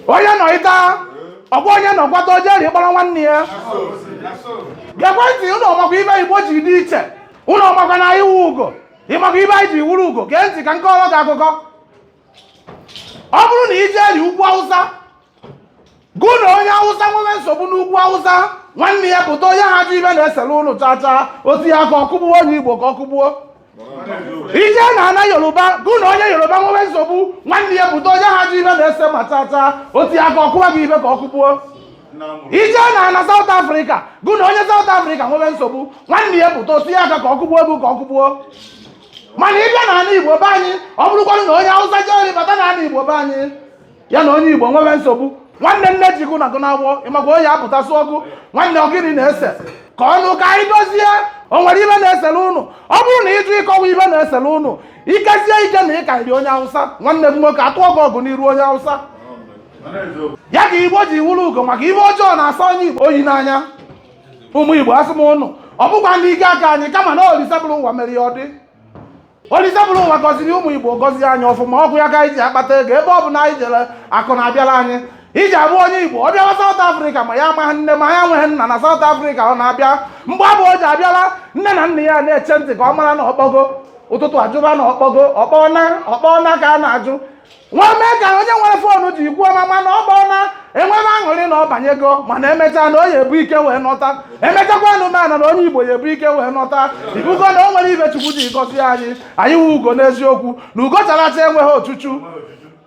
onye nọ ịta ọ gwa onye nọ kwata o jeri kpọrọ nwanne ya gekwe ntị ụnụ ọ makwa ibe igbo ji dị iche ụnụ ọ makwa na anyị wu ugo ị makwa ibe anyị ji wuru ugo gee ntị ka m kọọrọ gị akụkọ ọ bụrụ na i jeri ugwu awụsa gụ na onye awụsa nwere nsogbu n'ugwu awụsa nwanne ya pụta ọ naha ajụ ibe na-esere ụnụ chaa chaa o tiye aka ka ọ kụgbuo onye igbo ka ọ kụgbuo i jee na ana yoruba gụ na onye yoruba nwewe nsogbu nwanne ya pụta ọ naha ajụ ibe na-ese ma tata o tiye aka kụwa gị ibe ka ọ kụgbuo i jee na ana South Africa gụ na onye South Africa nwewe nsogbu nwanne ya pụta o tiye aka ka ọ kụgbuo gị ka ọ kụgbuo mana ị bịa na ana Igbo be anyị ọ bụrụkwanụ na onye Awụsa jee bata na ana Igbo be anyị ya na onye igbo nwere nsogbu nwanne nne ji gụ na gụ na-agwọ ị makwa ọ ya-apụta sị gụ nwanne ọ gịnị na-ese kọọnụ ka anyị dozie o nwere ibe na-esere ụnụ ọ bụrụ na ị jụ ịkọwa ibe na-esere ụnụ i kezie ike na ị karịrị onye awụsa nwanne m nwoke atụọ gị ọgụ n'iru onye awụsa ya ka igbo ji wuru ugo maka ibe ọjọọ na-asọ onye igbo oyi n'anya ụmụ igbo asị m ụnụ ọ bụkwa n'ike aka anyị kama na olise buru ụwa mere ya ọ dị Olise buru ụwa gọziri ụmụ Igbo gọzie anyị ọfụma ọ wụ ya ka anyị ji akpata ego ebe ọ bụna anyị jere akụ na-abịara anyị i ji abụ onye Igbo ọ bịawa South Africa ma ya amaghị nne ma ya nweghị nna na South Africa ọ na-abịa mgbe abụ o ji abịala nne na nna ya na-eche ntị ka ọ mara na ọ kpọgo ụtụtụ a jụba na ọ kpọgo ọ kpọna ọ kpọna ka a na-ajụ nwa mee ka onye nwere foonu jekwuo mama na ọ kpọna e nwebe aṅụrị na ọ banyego mana e mechaa na ọ ya-ebu ike wee nọta e mechakwa anụmanụ na onye igbo ya-ebu ike wee nọta ị bụgo na o nwere ibe chukwu ji gọzie anyị anyị wu ugo n'eziokwu na ugo chara acha enweghị ochuchu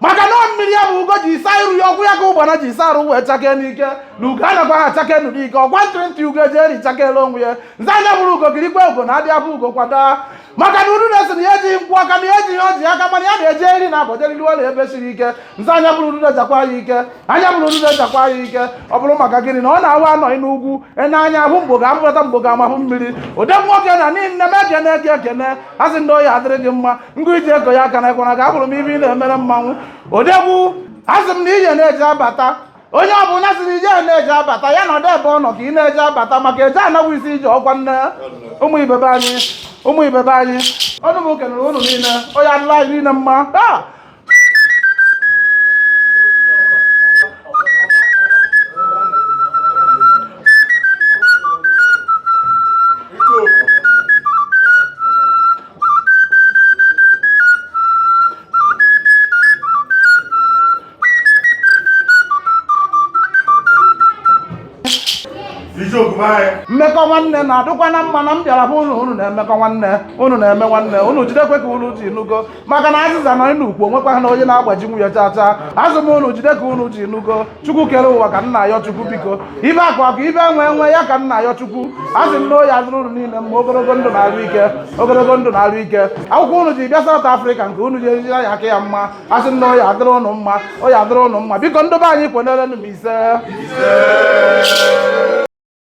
maka na mmiri ya bụ ugo ji isa iru ya ọ wụ ya ka ụgbana ji isa arụ wee chakee n'ike na ugo anakwa ha chakee nụ n'ike ọgwa ntịrịntị ugo eji eri chakele onwe ya nze anya bụrụ ugo kirikwa ugo na adịa abụ ugo kwa daa maka na uru na-asị na ya ejighị nkwụ aka na ya ejighị ọjị aka mana ya na-eje eri na abọjeriri ọla ebe siri ike nze anya bụrụ uru jakwa ya ike anya bụrụ uru jakwa ya ike ọ bụrụ maka gịnị na ọ na-awa anọghị n'ugwu enye anya ahụ mgbo ga amụrata mgbo ga amahụ mmiri ụdị nwoke na n'ihi nne m ekene eke ekene a sị m gị ọ ya-adịrị gị mma ngụ iji ego ya aka na ekwana ka abụrụ m ibe ị na-emere mmanwụ odegwu a sị m na ije na-eje abata onye ọ bụla sịrị ije na-eje abata ya nọdụ ebe ọ nọ ka ị na-eje abata maka eje ana wụ isi ije ọkwa nne ụmụ ibe be anyị ụmụ ibe be anyị ọnụ m kenere ụnụ niile ọ ya-adịlị anyị niile mma ah! mmekọ nwanne na-adịkwanụ mma na m bịara bụ ụlọ unu na-emekọ nwanne unu na-eme nwanne unu jidekwe ka unu ji nugo maka na azịza nọ n'ukwu onwekwa ha na onye na-agbajinwu ya chacha asị m unu jide ka unu ji nugo chukwu kere ụwa ka m na-ayọ chukwu biko ife akụ akụ ife enwe enwe ya ka m na-ayọ chukwu asị m na ọ ya-adịrị unu niile mma ogologo ndụ na arụ ike ogologo ndụ na arụ ike akwụkwọ unu ji bịa South Africa nke unu ji ejiri ya aka ya mma asị m na ọ ya-adịrị ụnụ mma ọ ya-adịrị ụnụ mma biko ndị be anyị kwenerenụ m ise